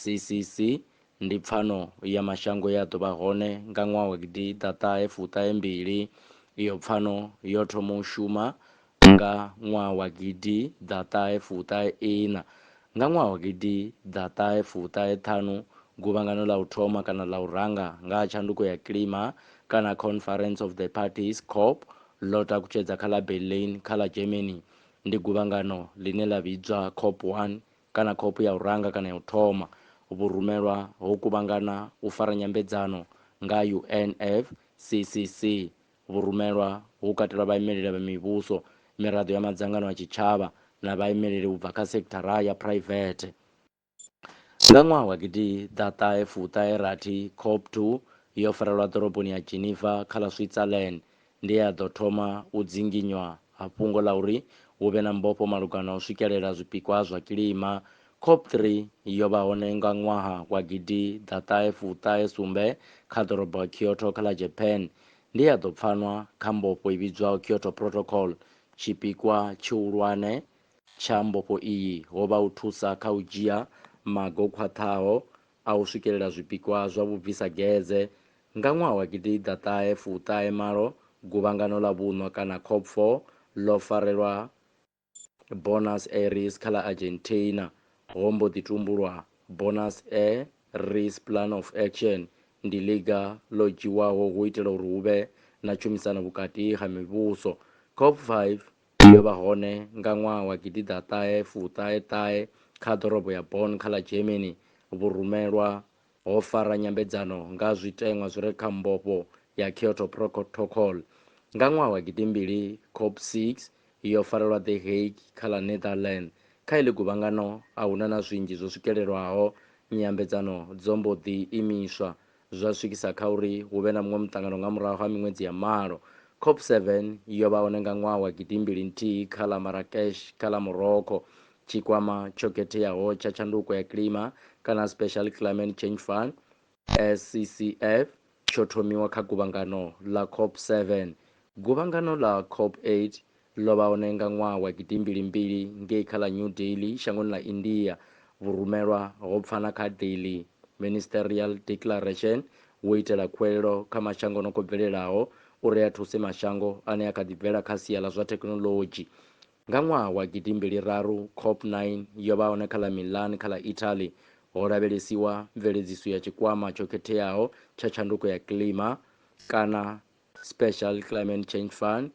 CCC, ndi pfano ya mashango ye a ḓo vha hone nga ṅwaha wa gidi ḓa ṱahe fuṱahe mbili. Iyo pfano yo thoma u shuma nga ṅwaha wa gidi ḓa ṱahe fuṱahe iṋa. Nga ṅwaha wa gidi ḓa ṱahe fuṱahe ṱhanu, Guvhangano ḽa u thoma kana ḽa u ranga nga ha tshanduko ya kilima kana Conference of the Parties, COP, ḽo takutshedza kha ḽa Berlin kha ḽa Germany. Ndi guvhangano ḽine ḽa vhidzwa COP one kana khophi ya u ranga kana ya u thoma, vhurumelwa ho kuvhangana u fara nyambedzano nga UNFCCC. Vhurumelwa hu katelwa vhaimeleli vha mivhuso, miraḓo ya madzangano a tshitshavha na vhaimeleli u bva kha sekithara ya phuraivethe. Nga ṅwaha wa gidiḓaṱahe fuṱahe rathi, COP2 yo farelwa ḓoroboni ya Geneva kha ḽa Switzerland. ndi e a ḓo thoma u dzinginywa ha fhungo ḽa uri hu vhe na mbofho malugana na u swikelela zwipikwa zwa kilima. Cop Three yo vha hone nga ṅwaha wa gidi ḓa ṱahe fu ṱahe sumbe kha ḓorobo ya Kyoto kha ḽa Japan. Ndi e a ḓo pfanwa kha mbofho i vhidzwaho Kyoto Protocol. Tshipikwa tshihulwane tsha mbofho iyi ho vha u thusa kha u dzhia maga o khwaṱhaho a u swikelela zwipikwa zwa vhubvisagedze, nga ṅwaha wa gidiḓa ṱahe fu ṱahe malo, Guvhangano ḽa Vhuṋwa kana COPFOR ḽo farelwa Buenos Aires kha ḽa Argentina, ho mbo ḓi tumbulwa Buenos A res Plan of Action, ndi ḽiga ḽo dzhiwaho hu itela uri hu vhe na tshumisano vhukati ha mivhuso. COP five Ndi yo vha hone nga ṅwaha wa gidiḓaṱahe fuṱahe ṱahe kha ḓorobo ya Bonn kha ḽa Germany. Vhurumelwa ho fara nyambedzano nga zwiteṅwa zwi re kha mbofho ya Kyoto Protocol. Nga ṅwaha wa gidimbili, COP 6 yo farelwa The Hague kha ḽa Netherlands. Kha iḽi guvhangano a hu na na zwinzhi zwo swikelelwaho, nyambedzano dzo mbo ḓi imiswa. zwa swikisa kha uri hu vhe na muṅwe muṱangano nga murahu ha miṅwedzi ya malo. COP 7 yo vha hone nga ṅwaha wa gidimbili nthihi kha ḽa Marrakesh kha ḽa Morocco. Tshikwama tsho Khetheaho tsha Tshanduko ya Kilima kana Special Climate Change Fund, SCCF, tsho thomiwa kha guvhangano ḽa COP 7. Guvhangano ḽa COP 8 Ḽo vha hone nga ṅwaha wa gidimbili-mbili ngei kha ḽa New Delhi, shangoni ḽa India, vhurumelwa ho pfa na kha Delhi Ministerial Declaration wo itela khuwelelo kha mashango no khou bvelelaho uri a thuse mashango ane a kha ḓi bvela kha sia ḽa zwa thekhinoḽodzhi. Nga ṅwaha wa gidimbili-raru, COP nine yo vha hone kha ḽa Milan kha ḽa Italy, ho lavhelesiwa mveledziso ya Tshikwama tsho Khetheaho tsha Tshanduko ya Kilima, kana Special Climate Change Fund,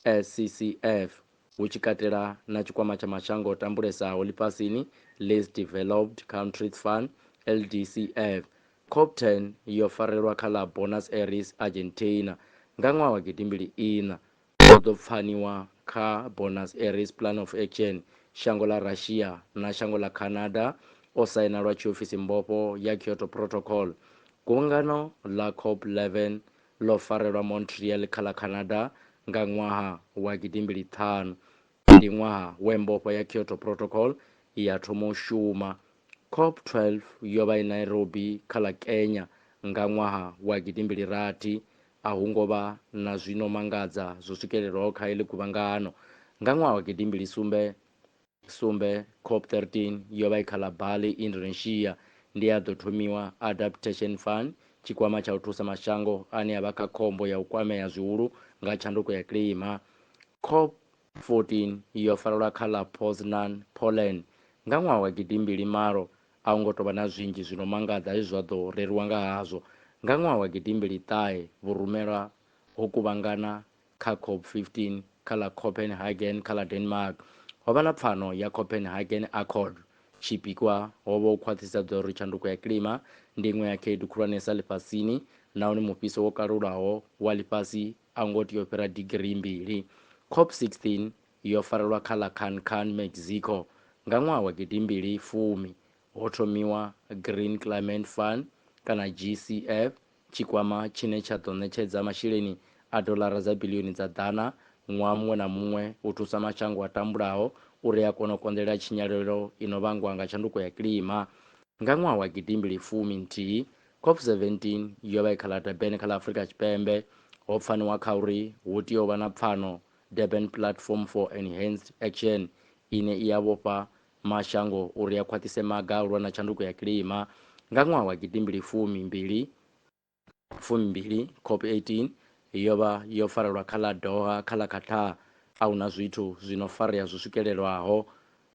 SCCF, hu tshi katela na Tshikwama tsha Mashango o Tambulesaho Ḽifhasini, Least Developed Countries Fund, LDCF. COP10 yo farelwa kha ḽa Buenos Aires, Argentina, nga ṅwaha wa gidi mbili iṋa. Ho ḓo pfaniwa kha Buenos Aires Plan of Action shango ḽa Russia na shango ḽa Canada o saina lwa tshiofisi mbofho ya Kyoto Protocol. Guvhangano ḽa COP11 ḽo farelwa Montreal kha ḽa Canada nga ṅwaha wa gidimbili ṱhanu. Ndi ṅwaha we mbofho ya Kyoto Protocol ya thoma u shuma. COP 12 yo vha i Nairobi kha ḽa Kenya nga ṅwaha wa gidimbili rathi. A hu ngo vha na zwi no mangadza zwo swikelelwaho kha heḽi guvhangano nga ṅwaha wa gidimbili sumbe. Sumbe, Cop 13, yo vha i kha ḽa Bali, Indonesia, ndi ya ḓo thomiwa Adaptation Fund, Tshikwama tsha u Thusa Mashango ane a vha kha Khombo ya u Kwamea Zwihulu nga Tshanduko ya Kilima. Cop 14 yo farelwa kha ḽa Poznan, Poland, nga ṅwaha wa gidimbili malo. A hu ngo tou vha na zwinzhi zwi no mangadza zwe zwa ḓo reriwa nga hazwo. Nga ṅwaha wa gidimbili ṱahe, vhurumelwa ho kuvhangana Kha cop 15 kha ḽa Copenhagen kha ḽa Denmark, ho vha na pfano ya Copenhagen Accord. Tshipikwa ho vha u khwaṱhisedza uri tshanduko ya kilima ndi iṅwe ya khaedu khulwanesa ḽifhasini nahone mufhiso wo kalulaho wa ḽifhasi a u ngo tea u fhira digirii mbili. Cop 16 yo farelwa kha ḽa Cancan, Mexico, nga ṅwaha wa gidi mbili fumi. Ho thomiwa Green Climate Fund, kana GCF, Tshikwama tshine tsha ḓo ṋetshedza masheleni a doḽara dza biḽioni dza ḓana ṅwaha muṅwe na muṅwe u thusa mashango a tambulaho uri a kone u konḓelela tshinyalelo i no vhangwa nga tshanduko ya kilima. Nga ṅwaha wa gidimbili fumi nthihi, COP 17 yo vha i kha ḽa Durban kha ḽa Afrika Tshipembe, ho pfaniwa kha uri hu tea u vha na pfano, Durban Platform for Enhanced Action, ine i a vhofha Mashango uri a khwaṱhise maga a u lwa na tshanduko ya kilima. Nga ṅwaha wa gidimbili fumi mbili, fumi mbili, COP18 yo vha yo farelwa kha ḽa Doha kha ḽa Qatar. A hu na zwithu zwi no farea zwi swikelelwaho.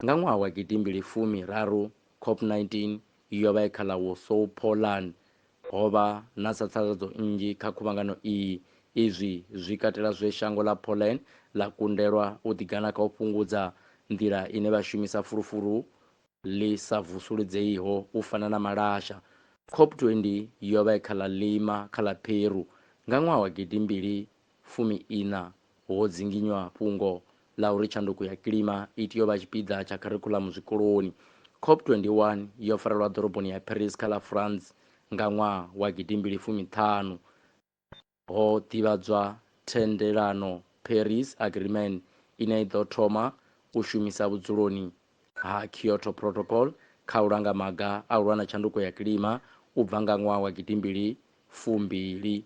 Nga ṅwaha wa gidimbili fumi raru, COP19 yo vha i kha ḽa Warsaw, Poland. Ho vha na tsatsaladzo nnzhi kha khuvhangano iyi. Izwi zwi katela zwe shango ḽa Poland ḽa kundelwa u ḓigana kha u fhungudza nḓila ine vha shumisa fulufulu ḽi sa vusuludzeiho u fana na malasha. COP20 yo vha i kha ḽa Lima kha ḽa Peru nga ṅwaha wa gidimbili Fumi-iṋa, Ho dzinginywa fhungo ḽa uri tshanduko ya kilima i tea u vha tshipiḓa tsha kharikhuḽamu zwikoloni. COP21 yo farelwa ḓoroboni ya Paris kha ḽa France nga ṅwaha wa gidimbili fumi ṱhanu. Ho ḓivhadzwa thendelano Paris Agreement ine i ḓo thoma u shumisa vhudzuloni ha Kyoto Protocol kha u langa maga a u lwa na tshanduko ya kilima u bva nga ṅwaha wa gidimbili fumbili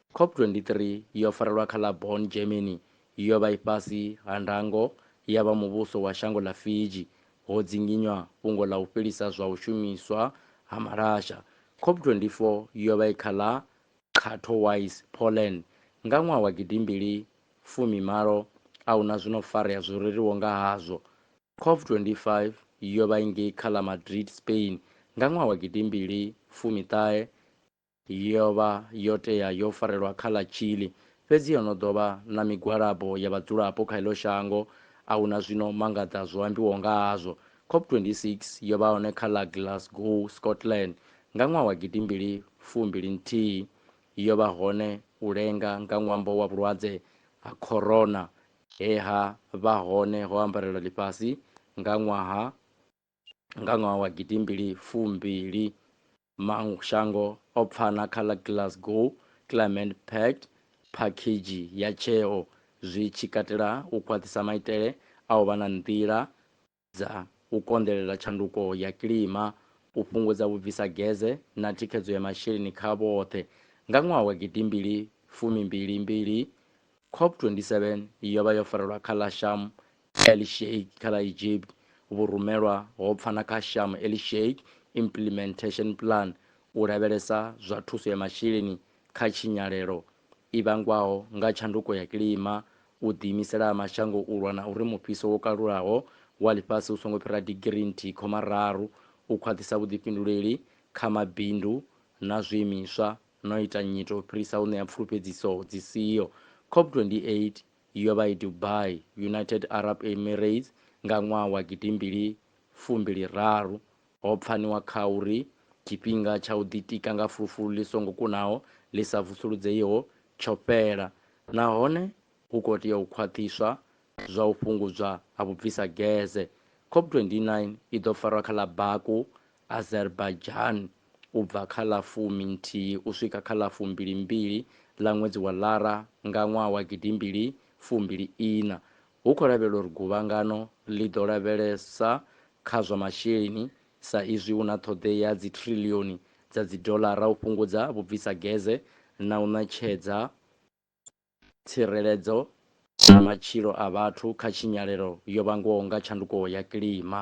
COP23 yo farelwa kha ḽa Bonn, Germany, yo vha i fhasi ha ndango ya vha muvhuso wa shango ḽa Fiji. Ho dzinginywa fhungo ḽa u fhelisa zwa u shumiswa ha malasha. COP24 yo vha i kha ḽa Katowice, Poland, nga ṅwaha wa gidimbili fumi malo. A hu na zwi no farea zwo reriwo nga hazwo. COP25 yo vha i ngei kha ḽa Madrid, Spain, nga ṅwaha wa gidimbili fumi ṱahe. Yo vha yo tea yo farelwa kha ḽa Chile, fhedzi ho no ḓo vha na migwalabo ya vhadzulapo kha heḽo shango. A hu na zwino mangaḓa zwo ambiwaho nga hazwo. COP 26 yo vha hone kha ḽa Glasgow, Scotland, nga ṅwaha wa gidi mbili fu mbili nthihi. Yo vha hone u lenga nga ṅwambo wa vhulwadze ha Corona he ha vha hone ho ambarelwa ḽifhasi nga ṅwaha wa. Nga ṅwaha wa gidi mbili fu mbili, mashango o pfana kha ḽa Glasgow Climate Pact, phakhedzhi ya tsheo zwi tshi katela u khwaṱhisa maitele a u vha na nḓila dza u konḓelela tshanduko ya kilima, u fhungudza vhubvisageze na thikhedzo ya masheleni kha vhoṱhe. Nga ṅwaha wa gidi mbili fumi mbili mbili, COP27 yo vha yo farelwa kha ḽa Sham Elishake kha ḽa Egypt, vhurumelwa ho pfa na kha Sharm el-Sheikh Implementation Plan u lavhelesa zwa thuso ya masheleni kha tshinyalelo i vhangwaho nga tshanduko ya kilima, u ḓiimisela ha mashango u lwa na uri mufhiso wo kalulaho wa ḽifhasi u songo fhira digirii nthihi khoma raru, u khwaṱhisa vhuḓifhinduleli kha mabindu na zwiimiswa na u ita nyito u fhirisa u ṋea pfulufhedziso dzi siho. COP28 Yo vha i Dubai, United Arab Emirates, nga ṅwaha wa gidimbili fumbili raru. Ho pfaniwa kha uri tshifhinga tsha u ḓitika nga fulufulu ḽi songo kunaho ḽi sa vusuludzeiho tsho fhela nahone hu khou tea u khwaṱhiswa zwa u fhungudzwa ha vhubvisageze. COP29 i ḓo farwa kha ḽa Baku Azerbaijan u bva kha ḽa fumi nthihi u swika kha ḽa fumbili mbili ḽa ṅwedzi wa Lara nga ṅwaha wa gidimbili fumbili iṋa, hu khou lavhelelwa uri guvhangano ḽi ḓo lavhelesa kha zwa masheleni sa izwi hu na ṱhoḓea ya dzithriḽioni dza dzidoḽara u fhungudza vhubvisageze na u ṋetshedza tsireledzo na matshilo a vhathu kha tshinyalelo yo vhangwaho nga tshanduko ya kilima.